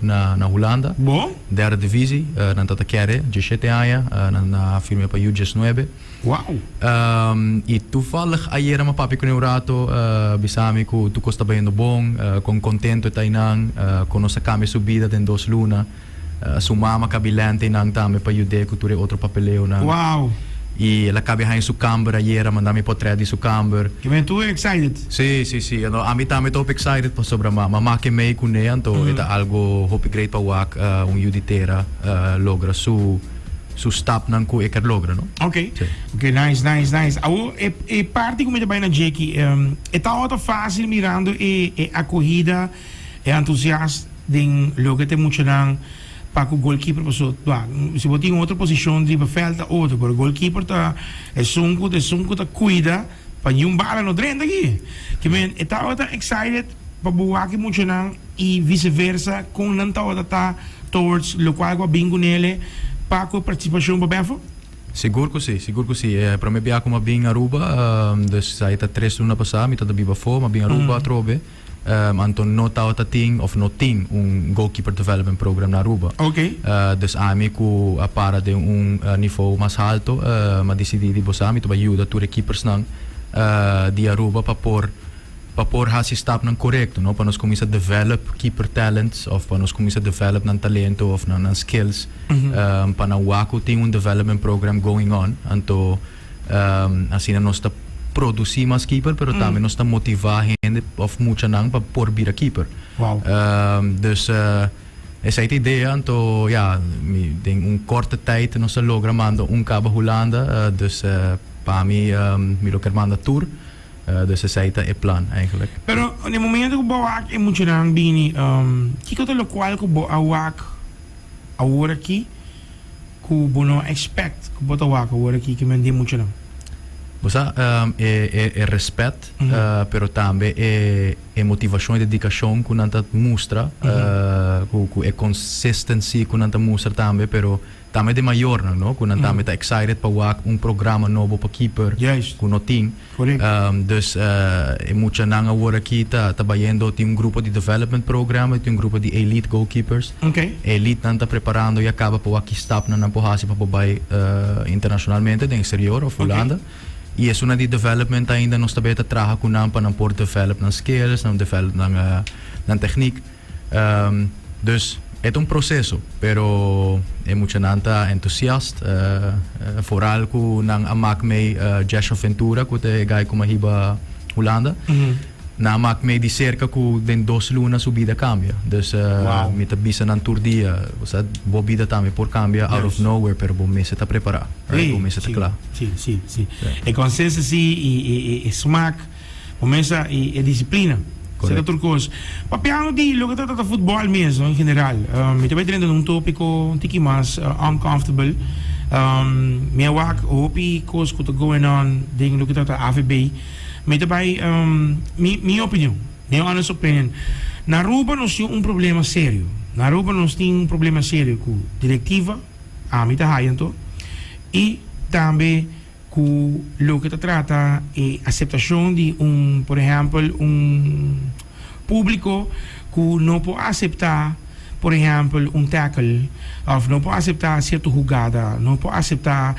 na Hulanda, derde divisi, nan ta ta kere dje shete aña, nan a firme pa yu djes nuebe. I tuvallig ayera mi a papia cu nan un rato, a bisa mi cu tur cos ta bayendo bon, con contento e ta eynan, con nos a cambia su bida den dos luna. Su mama cabi lente eynan tambe pa yud'e cu tur e otro papeleonan. I el a cabi haña su camber ayera, manda mi potret di su camber. Si si si no ami tambe ta hopi excited pasobra ma ma make mei cu ne anto e ta algo hopi great pa wak un yu di tera logra su su stapnan cu e kier logra no. Ok ok nice nice nice awo e e parti cu mi ta bay na djeki e ta ota facil mirando e e acohida e entusiast den loke ta e muchanan pa cu goalkeeper paso ba si bo tin otro posicion riba veld ta otro pero goalkeeper ta esun cu esun cu ta cuida Pa Jun Bala no drenta aki. Ki men e tabata excited pa bo waki muchanan y vice versa con nan tabata ta towards locual cu a bin cu nele pa cu e participacion bo befo? Sigur cu si, sigur cu si. E prome bia cu m'ha bin Aruba, dus ai ta tres luna pasa, mi ta ta biba afo, m'ha bin Aruba atrobe. Anto no tabata tin of no tin un Goalkeeper Development Program na Aruba. Dus ami ku a para den un nivou mas halto m'a disidí di bosa mi ta bai yuda tur e kipersnan di Aruba pa por pa por hasi stapnan korekto no pa nos kuminsá develop keeper talents of pa nos kuminsá develop nan talento of nan skills pa nan wak ku tin un development program going on. Anto Asina nos ta produci mas keeper pero tambe nos ta motiva hende of muchanan pa por bira keeper. Wow. dus esai ta idea anto ya mi den un korte tijd nos ta logra manda un kaba Hulanda eh, dus eh, pa mi ehm, mi lo ker manda tur Eh, dus esai ta e plan eigenlijk. Pero na e momento ku bo a wak e muchanan bini, ehm, kiko ta lokual ku bo a wak awor aki? Cu bo no expect cu bo ta wak awor aki ki men di e muchanan? Bo sa, e respet, pero tambe e motivacion, e dedicacion cu nan ta mustra, cu e consistency cu nan ta mustra tambe, pero tambe den mayornan, no? Cu nan tambe ta excited pa wak un programa nobo pa kiper cu no tin. Dus e muchanan awor aki ta ta bayendo tin un grupo di development program y tin un grupo di elite goalkeepers. E elite nan ta preparando ya caba pa wak ki stapnan nan por haci pa por bay internacionalmente den exterior of Hulanda. Y esuna di development ainda nos ta bay ta traha cu nan pa nan por develop nan skills, nan develop nan techniek. Um, dus e ta un proseso, pero e muchanan ta entusiast. Uh, uh, foral ku nan a mak mei uh, Jasha Ventura, ku te e gai kuma hiba Hulanda. Nan a mak mei di serka ku den dos luna su bida kambia. Dus uh, Wow. mi ta bisa nan tur dia, o sea, bo bida tambe por kambia out of Yes. nowhere, pero bo mester ta prepará, right? Bo mester ta Sí, kla. sí, sí, sí. E consensus sí, e, e, e, e smaak. Kumesa i e disiplina. Esei ta tur kos. Papiando di loke ta trata futbòl mes no en general. Mi ta bai drenta na un topiko un tiki mas uncomfortable. Mi a wak hopi kos ku ta going on den loke ta trata avb. Mi ta bai mi mi opinion, mi honest opinion. Na Aruba nos tin un problema serio. Na Aruba nos tin un problema serio ku direktiva, ami ta haya anto, i tambe Cu loke ta trata e aceptacion di un, por ehempel, un publico cu no por acepta, por ehempel, un tackle of no por acepta cierto hugada, no por acepta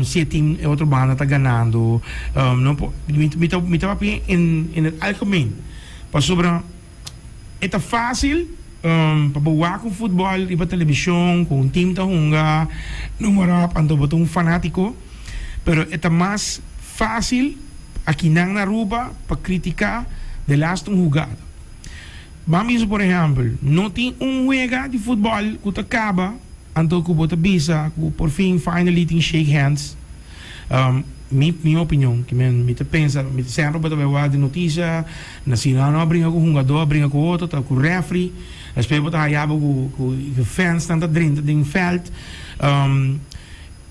si e team, e otro banda ta ganando, no por, mi ta papia en, en el algemeen, pasobra. E ta fásil pa bo wak un futbòl riba telebishon ku un tim ta hunga, nomeròp, anto bo ta un fanátiko. Pero e ta mas fásil pa akinan na Aruba pa kritiká del asta un hugada. Ban bisa por ehèmpel, no tin un wega di futbòl ku ta kaba anto ku bo ta bisa ku porfin finally tin shake hands. Mi mi opinion ki mi ta pensa semper bo ta bai wak di noticia na sinano a bringa ku hungador a bringa ku otro ta ku refri despues bo ta hayabo ku ku e fans nan ta drenta den veld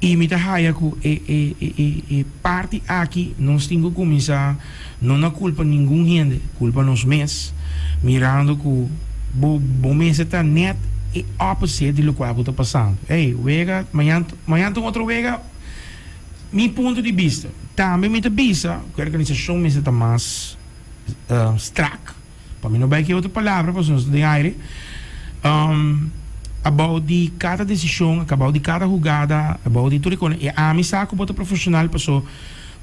y mi ta haya ku e e e e parti aki nos tin ku kuminsa no na culpa ningun hende culpa nos mes mirando ku bo bo mester ta net e opposite di lokual ku ta pasando ey wega mañan Mañana ta un otro wega. Mi punto di bista. Tambe mi ta bisa ku e organisashon mester ta mas strak. Pa mi no bai ku e otro palabra pasobra nos ta den aire. Abou di kada desishon, abou di kada hugada, abou di tur e kosnan, e ami sa ku bo ta profeshonal paso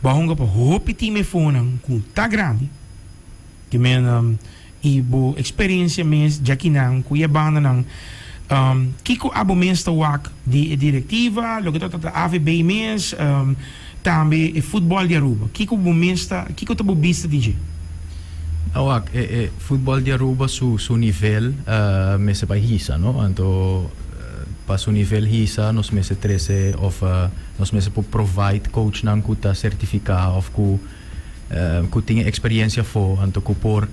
bo a hunga pa hopi timefónan ku ta grandi. Di manera Y bo experiencia mes dja kinan cu e bandanan, kico abo mes ta wak di e directiva, loke ta tabata AVB mes, tambe e futbol di Aruba? Kico bo mes ta, kico ta bo bista di dje? Ta wak, e e futbol di Aruba su su nivel mester bai hisa, no? Anto pa su nivel hisa nos mester trece of nos mester por provide coachnan cu ta certifica of cu cu tin e experiencia afo, anto cu por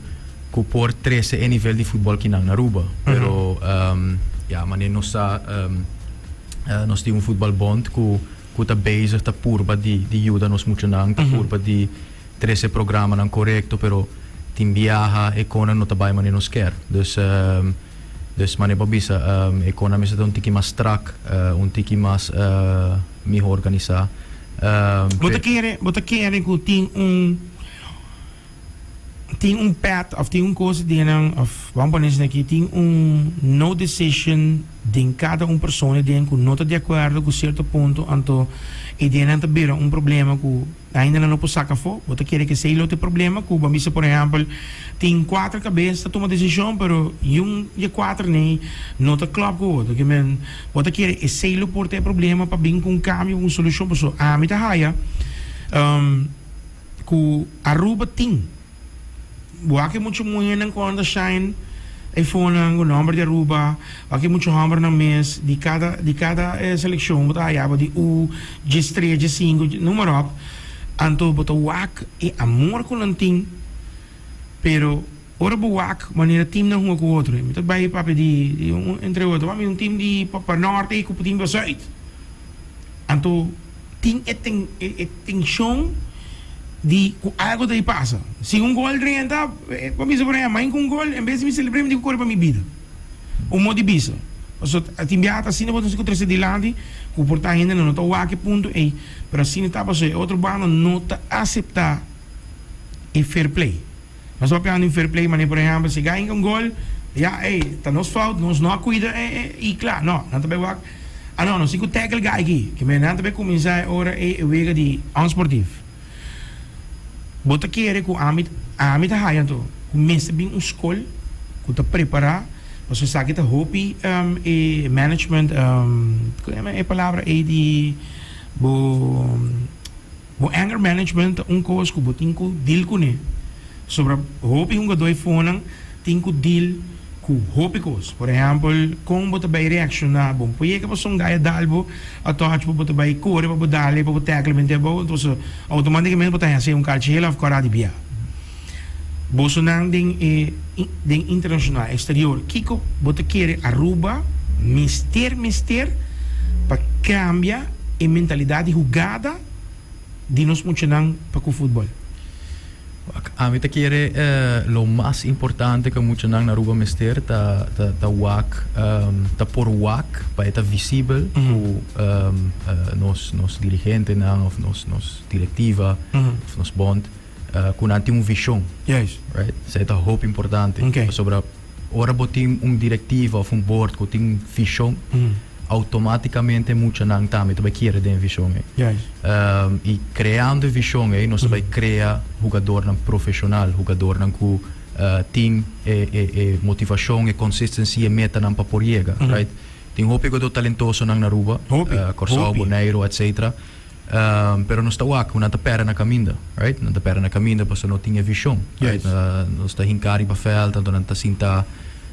cu por trece e nivel di futbol ki nan Aruba. Pero ya, mane nos sa nos tin un futbalbond cu cu ta bezig ta purba di di yuda nos muchanan, ta purba di trece programanan corecto, pero tin biaha e conan no ta bay mane nos kier. Dus dus mane bo bisa e conan mester ta un tiki mas strak, un tiki mas. Miho organisá. Bo ta kere, bo ta kere ku tin un, tin un pèt òf tin un kos den nan òf ban pone esei aki tin un no decision den kada un persona den ku no ta de akuerdo ku sierto punto anto e den nan ta bira un problema ku. Dainelan lo por saca afo. Bo ta kere cu esey lo ta e problema, cu bo a bisa por ehempel tin cuater cabes ta tuma decision pero yiun di e cuater ney no ta clop cu otro que men bo ta kere esey lo por ta e problema pa bin cu un cambio, cu un solucion paso ami ta haya cu Aruba tin. Wak e muchu muhernan ku a anda shine e fonan ku nòmber di Aruba. Wak e muchu hòmbernan mes di kada di kada e selekshon ku ta hayaba di ú, djes tres, djes sinku, numeròp. Anto bo ta wak e amor ku nan tin. Pero ora bo wak manera timnan hunga ku otro. Mi ta bai papia di di un entre otro. Wak mi un tim di pa pa nòrte i ku tin pa zuid. Anto. Tin e tenshon di ku algu ta di pasa. Si un gol renta, bo bisa por eha, main ku un gol, en bes di mi selebr'é mi tin ku kore pa mi bida. Un mot di bisa, paso tin biaha ta asina bo ta mester ku trese dilanti ku por ta hendenan no ta wak e punto ei, pero asina ta paso e otro banda no ta aseptá e fair play. Nos hopi andu fair play manera por ehempel si gainga un gol ya ey ta nos fout nos no a cuida e y cla no nan ta bay wak a no nos tin cu tackle gai aki ki manera nan ta bay cuminsa e ora ey e wega di onsportief bo ta kere cu ami ami ta haya anto cu mester bin un school cu ta prepara pasobra esaki ta hopi e management cu ta yama e palabra ey di bo. Bo anger management ta un kos ku bo tin ku deal kuné. Sobra hopi hungadó e fonan tin ku deal ku hopi kos. Por ehèmpel, kon bo ta bai reakshoná. Bo no por yega pa son gaya dal bo a touch pa bo ta bai kore pa bo dal e pa bo tèkl e bende abou. Entonse, outomátikamente bo ta hesé un kalchi hela of kòrá di biaha. Bosonan den e den internacional exterior kico bo ta kere Aruba mester mester pa cambia e mentalidad di hugada di nos muchanan pa cu futbol? Ami ta kere lo mas importante cu muchanan na Aruba mester ta ta ta wak ta por wak pa e ta visibel cu nos nos dirigentenan of nos nos directiva of nos bond. uh, cu nan tin un vision. Yes. Right? Zij ta hoop importante. Okay. Pasobra, ora bo tin un directiva of un board cu tin vision, mm. automaticamente mucha nan tambe ta kiere den vision. Eh. Yes. Um, y creando e vision, eh, nos mm. vai crea jugador nan profesional, jugador nan cu uh, tin e, e, e motivacion, e consistency, e meta nan pa por llega. Mm. Right? Tin hoop jugador talentoso nan Aruba, uh, Corso, Bonaire, etc. Um, pero nos ta wak, ku nan ta pèrdè nan kaminda, right? Nan ta pèrdè nan kaminda paso no tin e vishon, right? Yes. Uh, nos ta hinká riba vèlt, anto nan ta sintá,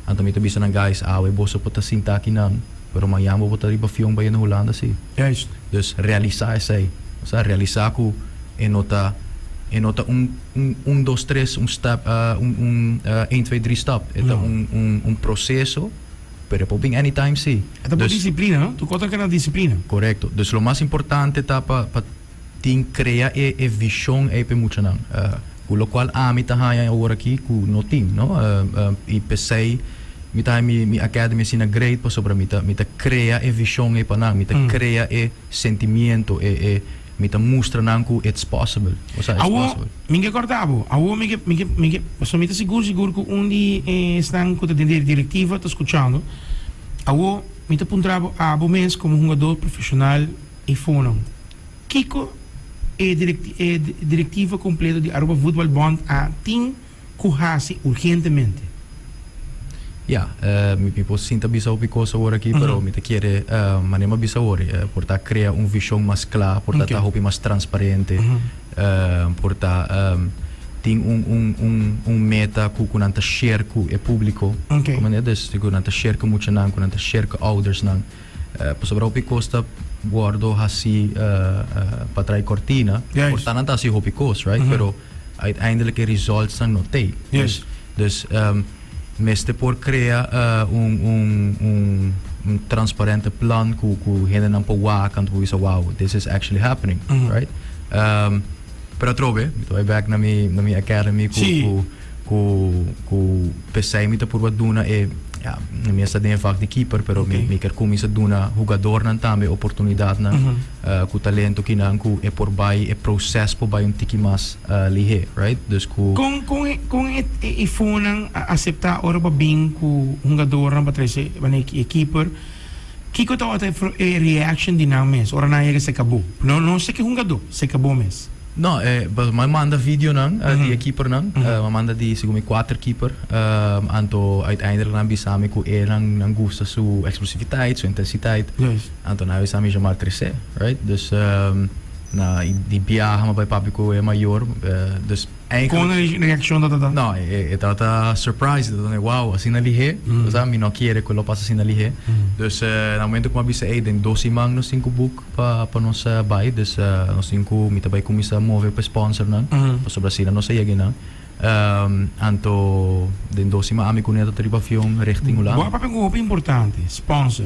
anto mi ta bisa nan guys, awe ah, boso por ta sintá aki nan, pero mañan bo por ta riba avion bai na Hulanda, sí. Juist. Dus realisá esei, o sea, realisá ku e no ta, e no ta un, un, un, dos, tres, un step, uh, un, un, uh, één, twee, drie stap. E ta No. un, un, un proseso. Pero e por bin anytime si. E ta por disiplina no? Tu kos ta keda disiplina. Korekto. Dus lo mas importante ta pa pa tin krea e e vishon ei pa e muchanan. Ku lokual ami ta haña e ora aki ku no tin no. I p'esei mi ta haña mi mi academy asina great pasobra mi ta mi ta krea e vishon ei pa nan. Mi ta krea e. sentimiento e e mi ta mustra nan ku it's possible o sea it's possible. Awo mi ke korta bo, awo mi ke mi ke mi ke paso mi ta sigur sigur ku un di esnan ku ta den di direktiva ta skuchando, awo mi ta puntra bo abo mes komo hungadó profeshonal i fonan kiko e direk e direktiva kompleto di Aruba Voetbalbond a tin? Cu haci urgentemente? Ya, mi por sinta bisa hopi cosa awor aki, pero mi ta kere, manera m'a bisa awor, por ta crea un vision mas cla, por ta ta hopi mas transparente, por ta tin un un un un meta cu cu nan ta share cu e publico, comprende? Dus cu nan ta share cu muchanan, cu nan ta share cu oudersnan, pasobra hopi cos ta wordo haci patra'i cortina, por ta nan ta haci hopi cos, right? Pero. Uiteindelijk e resultsnan no t'ei. Dus, dus ehm mester por crea eh un, un, un, un transparente plan cu, cu hendenan por wak anto por bisa wow, this is actually happening, right? Ehm pero atrobe, mi ta bai back na mi, na mi academy cu, Sí. cu, cu, cu p'esei mi ta purba duna e, ja, mi a sta den e vak di keeper pero mi, mi kier cuminsa duna hugadornan tambe oportunidadnan. cu talento ki nan cu e por bay e proces por bay un tiki mas lihe right dus cu. Con con e con e e fonan a acepta ora bo bin cu hungadornan pa trae su wende e keeper kico tabata e reaction di nan mes ora nan a yega seca bo no no seca e hungador seca bo mes. No e pas m'a manda videonan di e keepernan. M'a manda di segun mi kuater keeper. Anto uiteindelik nan a bisa mi ku e nan nan gusta su eksplosiviteit, su intensiteit. Anto nan a bisa mi Jamar Trese, right? Dus na di biaha m'a bai papia ku e mayor. Dus Kon e reakshon tabata ta? No e tabata surprise, e tabata na wow, asina lihé? Kusabra mi no kere ku lo pasa asina lihé. Dus na momento ku m'a bisa ey den dos siman nos tin ku buk pa pa nos bai des nos tin cu mi ta bai cuminsa move pa e sponsornan pasobra asina nos a yega enan anto den dos sima ami cu Neto ta riba avion richting Hulanda. Bo a papia cu hopi importante, sponsor.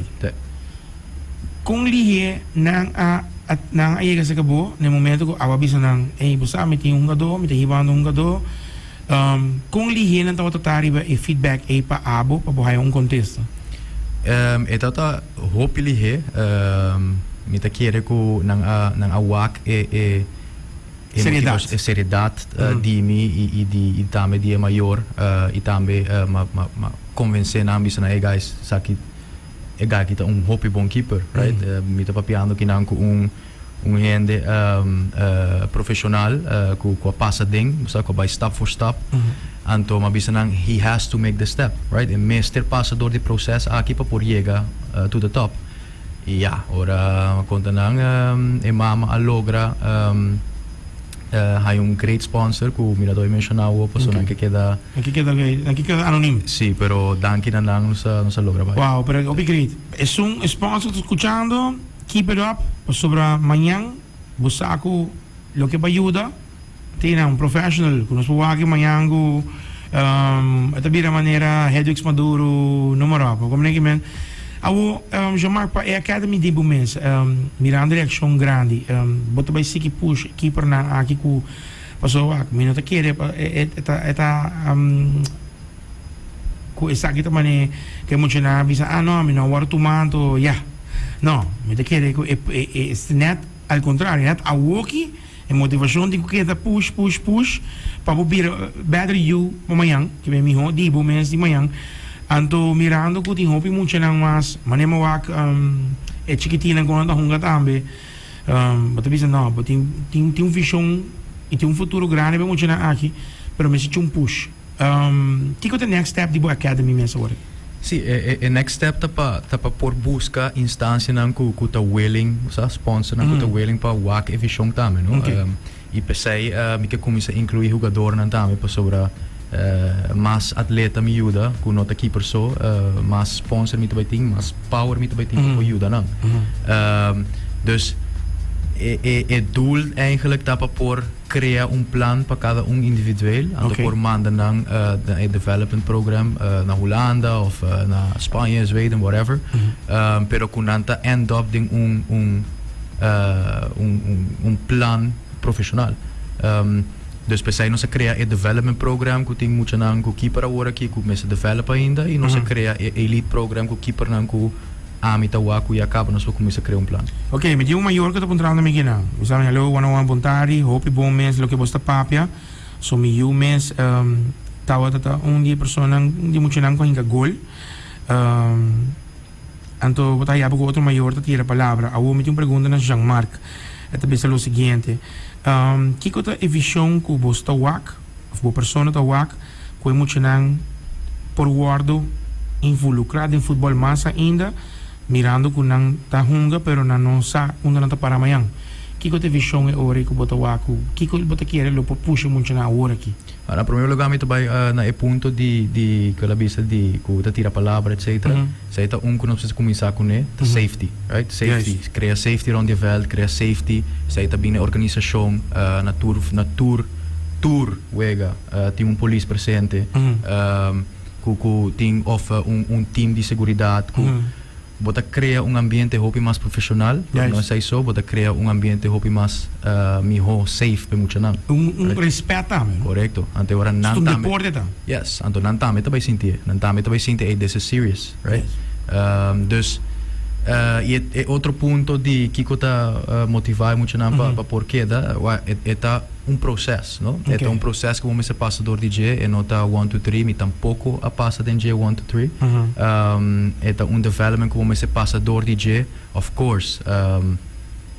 Con lihe nan a nan a yega cerca bo na e momento cu abo a bisa nan ey bo sa mi tin un hungador mi ta hibando un hungador. Kon lihenan tabata ta riba e feedback ei pa abo pa bo haya un kontesto? E tabata hopi lihé. Mi ta kere ku nan a wak e seridat di mi i tambe di e mayor i tambe m'a konvensé nan bisa nan e guys sa aki e guy aki ta un hopi bon keeper right. Mi ta papiando ki nan ku un. Un hende profesional cu a pasa den, cu a bay stap for stap. Anto mi a bisa nan, he has to make the step, right? E mester pasa door di proces aki pa por yega to the top. Y ya, ora mi a conta nan, e mama a logra haya un great sponsor cu Mirador a menciona awo, pasobra nan ke keda. Nan ke keda bay, nan ke keda anonim. Sí, pero danki na nan nos a logra bay. Wow, pero hopi great. Esun e sponsor ta scuchando. Keep it up pasobra mañan bo sa cu loke bo a yuda. Tina un professional cu nos por wak aki mañan cu e ta bira manera Hedwix Maduro numero apo. Comprende kico men? Awor Jean Marc pa e Academy di bo mes mirando reaccion grandi bo ta bay siki push e keepernan aki cu paso wak mi no ta kere e ta Ku esaki ta manera ku e muchanan a bisa, ah no, mi no a wòrdu tuma anto, ya. No, mi ta kere ku e nèt al kontrario, e nèt awoki e motivashon tin ku keda push, push, push pa bo bira bèder yu pa mañan, ke bai mihó di bo mes di mañan. Anto mirando ku tin hopi muchanan mas manera mi wak e chikitinnan ku nan ta hunga tambe, bo ta bisa no, bo tin tin tin un vishon i tin un futuro grandi pa e muchanan aki, pero mi a si cho un push. Kiko ta e next step di bo Academy mes awor? Sí, e next step ta pa ta pa por buska instancianan cu cu ta willing, sa, sponsornan cu ta willing pa wak e vision tambe, no? Ok. Y pesey mi ke cuminsa inclui hugadornan tambe pasobra mas atleta mi yuda cu no ta keeper so, mas sponsor mi ta bay tin, mas power mi ta bay tin pa por yuda nan. Dus e doel eigenlijk ta pa por. Crea un plan pa cada un individueel, anto por manda nan na e development program na Hulanda of na Spanje, Zweden, whatever, pero cu nan ta end up den un un un un un plan profesional. Dus p'esai nos a crea e development program cu tin muchanan cu kiper awor aki cu mester develop ainda y nos a crea e elite program cu kipernan cu Ami ta wak cu ya caba nos por cuminsa crea un plan. Ok, mi tin un mayor cu ta puntrando mi guinan. Mi sa mi, Hallo, one one, bon tardi, hopi bon mes loke bo sta papia. So mi yu mes tabata ta un di e personanan, un di e muchanan cu a hinca gol. Anto bo ta haya bo cu otro mayor ta tira palabra. Awor mi tin un pregunta na Jean-Marc. E ta bisa lo siguiente, Kico ta e vision cu bo sta wak? Of bo persona ta wak ku e muchanan por wòrdu involukrá den futbòl mas ainda, mirando ku nan ta hunga pero nan no sa unda nan ta pará mañan. Kiko ta e vishon e ora ei ku bo ta wak ku kiko bo ta kere lo por pusha e muchanan awor aki? Na primer lugá mi ta bai na e punto di di kue el a bisa di ku ta tira palabra etcetera. Esei ta un ku nos mester kuminsá kuné, ta safety, right? Safety, krea safety rond e vèlt, krea safety. Esei ta bini na organisashon, na tur na tur tur wega tin un polis presente ku ku tin òf un un tim di seguridat ku bo ta krea un ambiente hopi mas profeshonal, por no sa i so, bo ta krea un ambiente hopi mas mihó, safe pa e muchanan. Un un respèt tambe, no? Korekto. Anteora nan tambe. Su deporte ta. Yes, anto nan tambe ta bai sinti e. Nan tambe ta bai sinti, ey, this is serious, right? Dus, y e e otro punto di kico ta motiva e muchanan pa pa por keda, ua, e e ta un proces, no? E ta un proces cu bo mester pasa dor di dje, e no ta one, two, three, mi tampoco a pasa den dje one, two, three. E ta un development cu bo mester pasa dor di dje. Of course,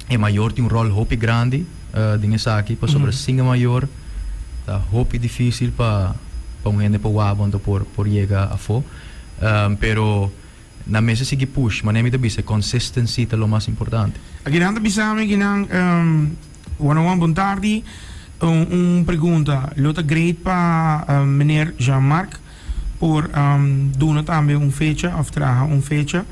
e mayor tin un rol hopi grandi. den esaki pasobra sin e mayor ta hopi dificil pa pa un hende pa wawon ta por por yega afo pero nan mester sigui push manera mi ta bisa e consistency ta lo mas importante. Aki nan ta bisa mi aki nan one one bon tardi un pregunta lo ta great pa meneer Jean Marc. por duna tambe un fecha of traha un fecha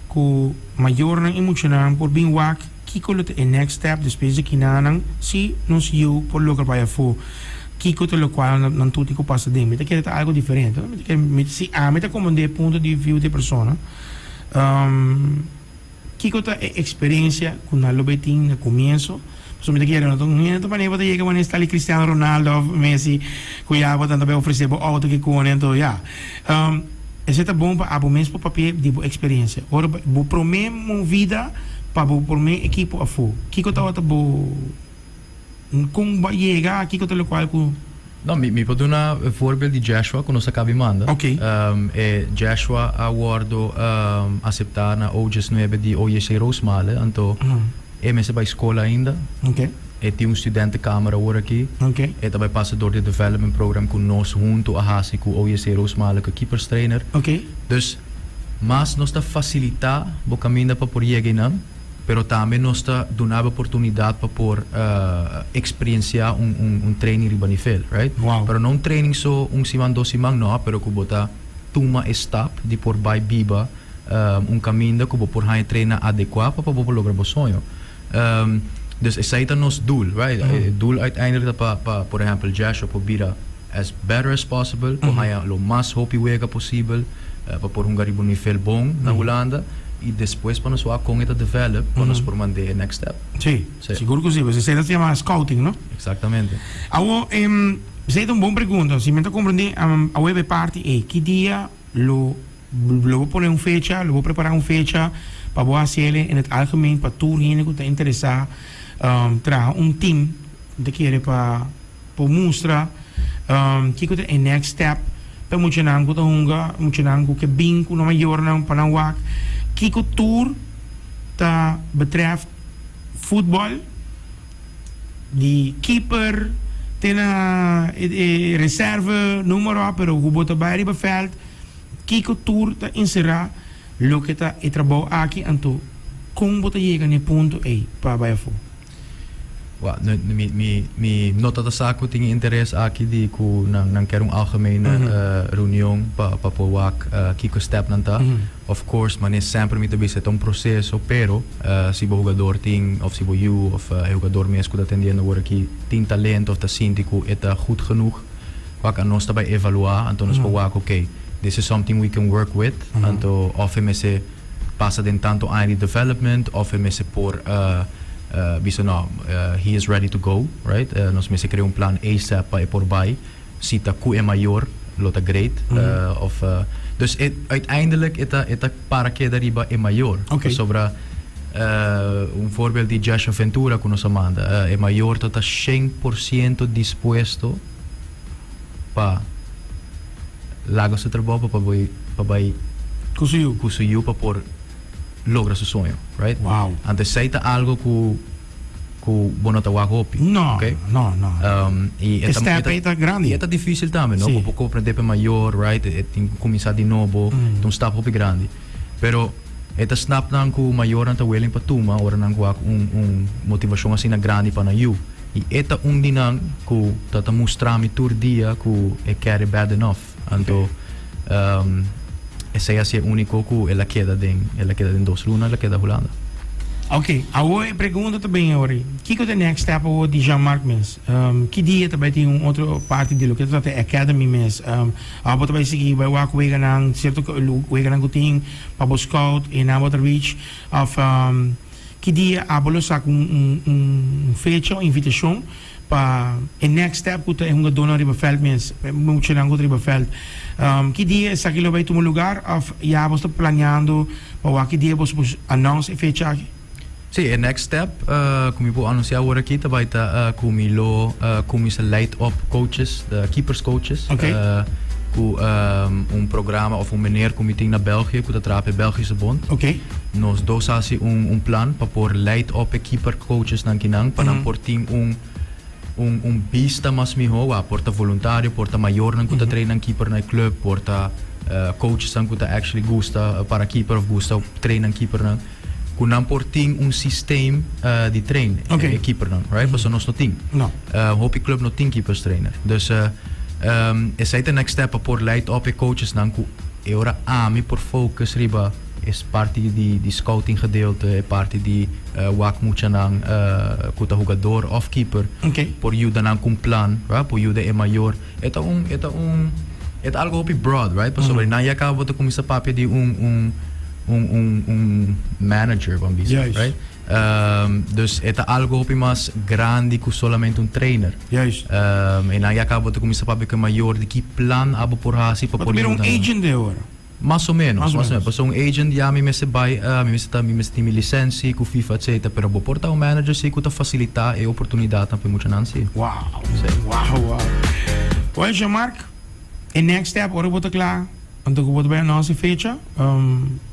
cu mayornan y muchanan por bin wak kico lo ta e next step despues di kinanan si nos yiu por logra bay afo kico ta locual nan tuti cu pasa den mi ta kere ta algo diferente no mi ta kere si ami ta comand'e punto di view di e persona. Kiko ta e eksperensia ku nan lo bay tin na kumienso? Pasobra mi ta kere no ta un hende manera bo ta yega manera estal di Cristiano Ronaldo òf Messi ku ya bo ta anto bay ofresé bo outo kikune anto ya. Esei ta bon pa abo mes por papia di bo eksperensia. Ora bo promé movida pa bo promé ekipo afó, kiko tabata bo? Con bo a yega aki cu ta locual cu. No, mi mi por duna e voorbeeld di Jashua cu nos a cabi manda. Ok. E Jashua a wordo acepta na OJS nuebe di OJC Roosmalen, anto e mester bay school ainda. Ok. E tin un studentenkamer awor aki. Ok. E ta bay pasa door di e development program cu nos hunto a haci cu OJC Roosmalen cu keeperstrainer. Ok. Dus mas nos ta facilita bo caminda pa por yega eynan. pero tambe nos ta dunab'e oportunidat pa por eksperienciá un training riba nivel, right? Wow. Pero no un training so un siman, dos siman, no, pero ku bo ta tuma e stap di por bai biba un kaminda ku bo por haña treina adekuá pa bo por logra bo soño. Dus esei ta nos doel, right? E doel uiteindelijk ta pa, por ehèmpel, Jashua por bira as better as possible por haña lo mas hopi wega posibel pa por hunga riba un nivel bon na Hulanda i despues pa nos wak kon e ta develop pa nos por mand'é e next step. Sí, sigur ku si, pues esei ta yama scouting, no? Eksaktamente. Awor, esei ta un bon pregunta. Si men ta komprendé, awor e bai parti ei. Ki dia lo bo pone un fecha, lo bo prepará un fecha pa bo hasi el en het algemeen pa tur hende ku ta interesá traha un team ku ta kere pa. por mustra kiko ta e next step pa e muchanan ku ta hunga e muchanan ku ke bin ku nan mayornan pa nan wak kiko tur ta betrèf futbòl di keeper te na e reserve numero a pero ku bo ta bai riba veld kiko tur ta enserá loke ta e trabou aki anto kon bo ta yega na e punto ei pa bai afó. Wak, no, mi, mi, mi no ta ta sa ku tin e interes aki di ku nan, nan ker un algemene reunion pa, pa por wak kiko step nan ta. Of course, manera semper mi ta bisa e ta un proseso, pero si bo hugador tin, of si bo yu, of e hugador mes ku ta atendiendo awor aki tin talento of ta sinti ku e ta gud genoeg, wak, anos ta bai evaluá, anto nos por wak, ok, this is something we can work with, anto of e mester. pasa den tanto aña di development of e mester por bisa no he is ready to go right nos mester crea un plan asap pa e por bay si ta cu e mayor lo ta great of dus e uiteindelijk e ta e ta para keda riba e mayor pasobra un voorbeeld di Jasha Ventura cu nos a manda e mayor ta ta shen por ciento dispuesto pa. laga su trabou pa pa bai pa bai Ku su yu. ku su yu pa por logra su soño right Wow. anto esei ta algo ku ku bo no ta wak hopi No, okay no, no. Um, i E step ei ta grandi. i e ta difícil tambe no Si. ku bo ko prende pa mayor right e tin ku kuminsá di nobo ta un stap hopi grandi pero e ta snapnan ku mayornan ta willing pa tuma ora nan wak un un motivashon asina grandi pa nan yu. I e ta un di nan ku ta ta mustra mi tur dia ku e kere bad enough. Anto esei a si e úniko ku el a keda den, el a keda den dos luna, el a keda Hulanda. Oke, awor e pregunta ta bini awor ei, kiko ta e next step awor di Jean-Marc mes? Ki dia e ta bai tin un otro parti di loke ta trata e academy mes? Ora bo ta bai sigui bai wak weganan, sierto weganan ku tin pa bo scout, e nan bo ta reach? Òf. Ki dia abo lo saka un fecha, un invitashon pa e next step ku ta e hungadónan riba vèlt mes, e muchanan ku ta riba vèlt? Ki dia esaki lo bai tuma lugar òf ya abo ta planeando pa wak ki dia boso por anons e fecha aki? Sí, e next step ku mi por anunsiá awor aki ta bai ta ku mi lo kuminsá leid òp kouches, keepers kouches, ku un programa òf un meneer ku mi tin na Bèlgië ku ta traha pa e Bèlgishebond. Nos dos a hasi un un plan pa por leid op e keepercoachesnan kinan pa nan por tin un un un bista mas mihó wak por ta voluntario, por ta mayornan ku ta treinnan keeper na e klùp, por ta coachesnan ku ta actually gusta para keeper òf gusta treinnan keepernan ku nan por tin un sistem di trein e keepernan right pasobra nos no tin. Hopi klùp no tin keepers trainer. Dus esei ta next step pa por leid op e coachesnan ku e ora ami por focus riba. Es parti di scouting gedeelte, e parti di wak muchanan cu ta hugador of keeper por yuda nan cu un plan, right, por yuda e mayor. E ta un, e ta un, e ta algo hopi broad, right, pasobra nan ya caba bo ta cuminsa papia di un, un, un, un, un manager, bo a bisa, right. Juist. Dus e ta algo hopi mas grandi cu solamente un trainer. Juist. E nan ya caba bo ta cuminsa papia cu e mayor di ki plan abo por haci pa Bo ta por bira un yuda nan. agent dor. Mas o menos, mas o menos, pasobra un agent ya mi mester bai, mi mester ta, mi mester tin mi lisensi ku fifa etcetera, pero bo por ta un manager si ku ta fasilitá e oportunidatnan pa e muchanan si. Wow, wow, wow. Well, Jean Marc, e next step ora bo ta kla, anto ku bo ta bai anons e fecha,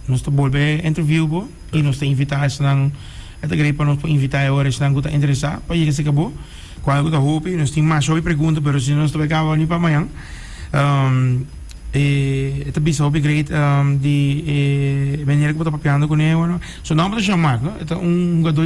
nos ta bolbe interview bo i nos ta invitá esnan, e ta grei pa nos por invitá e ora esnan ku ta interesá pa yega serka bo, kual ku ta hopi, nos tin masha hopi pregunta pero si no nos ta bai kaba ni pa mañan. E ta bisa hopi great di e manera ku bo ta papiando kuné bueno su nomber ta Jean Marc no e ta un hugador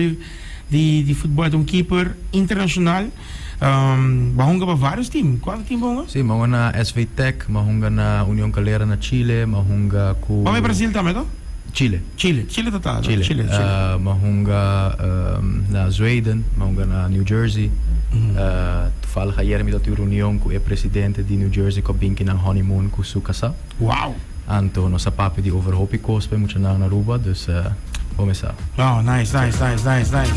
di di futbol e ta un keeper internashonal bo a hunga pa vários tim kuantu tim bo a hunga? Si mi a hunga na SV Tech mi a hunga na Union Calera na Chile mi a hunga ku. Bo a bai Brasil tambe to? Chile. Chile, Chile ta ta Chile, Chile, Chile. Uh, me hunga um, na Zweden, me hunga na New Jersey. Uh, toevallig ayer mi tabata un reunion cu e presidente di New Jersey cu a bin kinan honeymoon cu su casá. Wow! Anto nos a papia di over hopi cos pa e muchanan na Aruba, dus uh, bo mesa. Oh, nice, nice, nice, nice, nice.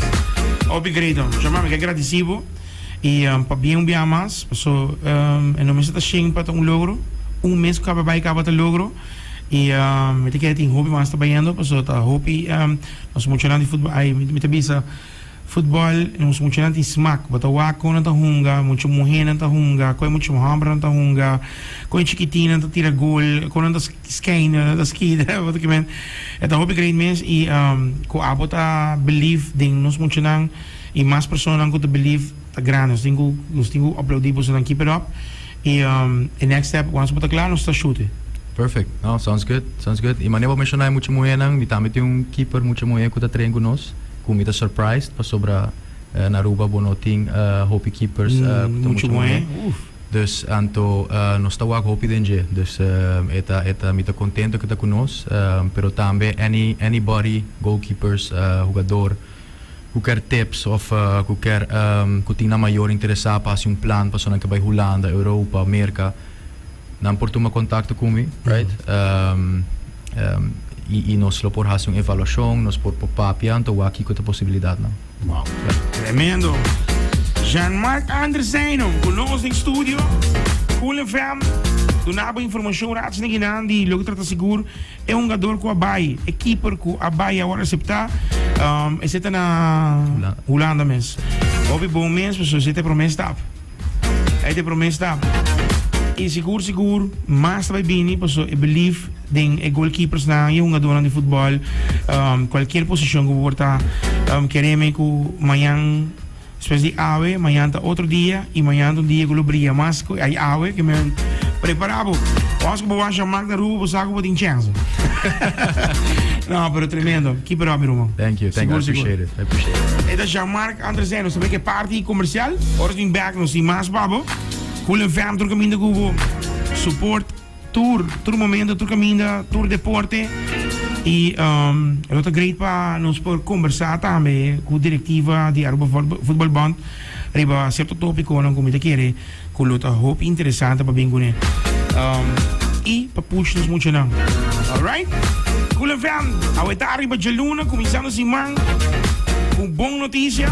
Hopi great, um. Chama, mi ke agradeci bo. Y um, pa bien un biaha mas, paso um, e no mester ta shen pa ta un logro. Un mes cu caba bai, caba ta logro. y mi ta kere tin hopi mas ta bayendo pasobra ta hopi nos muchanan di futbol ay mi ta bisa futbol nos muchanan tin smak bo ta wak con nan ta hunga mucha muher nan ta hunga con e mucha homber nan ta hunga con e chikitin nan ta tira gol con nan ta skein con nan ta skida bo ta kibe e ta hopi great mes y cu abo ta believe den nos muchanan y mas personanan cu ta believe ta grandi nos tin cu nos tin cu aplaudi bosonan keep it up. Y e next step wans bo ta kla nos ta shute. Perfect no sounds good sounds good y mane bo menshonae mucha muhenan mi tambe tin un keeper mucha muhe cu ta train cu nos cu mi ta surprised pasobra na Aruba bo no tin hopi keepers cu ta mucha muhe dus anto nos ta wak hopi den dje dus e ta e ta mi ta contento cu ta cu nos pero tambe any anybody goalkeepers hugador Cuker tips of cuker cu tin nan mayor interesa pa haci un plan pasobra nan ke bay Hulanda, Europa, Merca, nan por tuma contacto cu mi, right? Y nos lo por haci un evaluacion, nos por por papia anto wak kico ta posibilidad nan. Wow, tremendo. Jean Marc Andre Seino cu nos den studio, Cool FM, dunabo informacion rac nekinan di loke trata sigur. E hungador ku a bai, e keeper ku a bai awor a aseptá, esei ta na Hulanda mes. Hopi bon mes, pasobra esei ta e promé stap. Ei ta e promé stap. I sigur sigur mas ta bai bini pasobra e belief den e golkeepersnan i e hungadornan di futbòl, kualkier posishon ku bo por ta kere mi ku mañan. Smes di awe, mañan ta otro dia y mañan ta un dia cu lo bria mas cu ai awe que men prepara bo. Once cu bo washa Magda Rubo bo sa cu bo tin chance. no, pero tremendo. Keep it up mi ruman. Thank you, thank you. I appreciate it. I appreciate it. Eta Jean Mark Andresen, nos sabe que party comercial. Ora sin back nos sin mas babo. Cool en fam tur caminda cu bo. Support. Tur, tur momento, tur caminda, tur deporte. Y lo ta great pa nos por conversa tambe cu directiva di Aruba Voetbalbond riba cierto topiconan cu mi ta kere cu lo ta hopi interesante pa bin cu ne. Y pa push nos muchanan. Alright? Cool FM, aweta riba djaluna, cuminsando siman cu bon noticia.